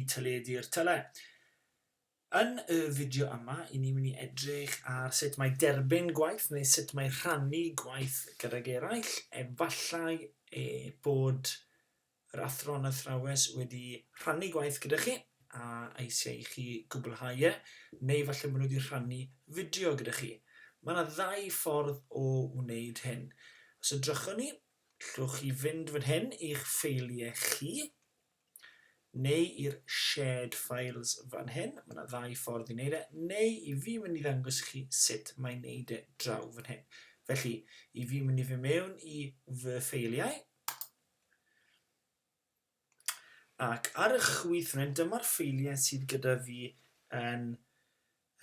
i teledu'r tyle. Yn y fideo yma, i ni'n mynd i edrych ar sut mae derbyn gwaith neu sut mae rhannu gwaith gydag eraill. Efallai e bod yr athro yn athrawes wedi rhannu gwaith gyda chi a eisiau i chi gwblhau e, neu falle bod nhw wedi rhannu fideo gyda chi. Mae yna ddau ffordd o wneud hyn. Os ydrychwn ni, llwch chi fynd fan hyn i'ch ffeiliau chi, neu i'r shared files fan hyn, mae yna ddau ffordd i wneud e, neu i fi mynd i ddangos i chi sut mae wneud e draw fan hyn. Felly, i fi mynd i fy mewn i fy ffeiliau, ac ar y chwith fan hyn, dyma'r ffeiliau sydd gyda fi yn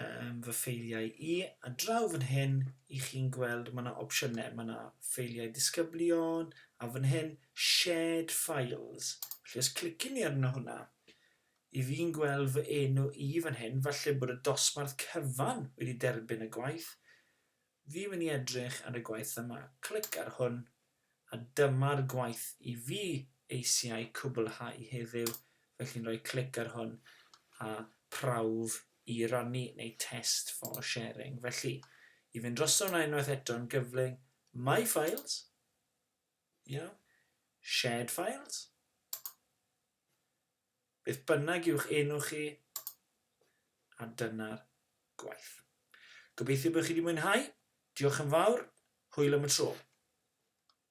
yym fy ffeiliau i, a draw fan hyn i chi'n gweld mae yna opsiynau, mae yna ffeiliau disgyblion, a fan hyn shared files, felly os clicwn i arno hwnna, i fi'n gweld fy enw i fan hyn, falle bod y dosbarth cyfan wedi derbyn y gwaith, Fi'n mynd i edrych ar y gwaith yma. Clic ar hwn, a dyma'r gwaith i fi eisiau cwblhau heddiw, felly'n rhoi clic ar hwn, a prawf i rannu neu test for sharing. Felly, i fynd droso hwnna unwaith eto yn gyflym, My Files, iawn, Shared Files, Beth bynnag yw'ch enw chi, a dyna'r gwaith. Gobeithio bod chi wedi mwynhau, diolch yn fawr, hwyl am y tro.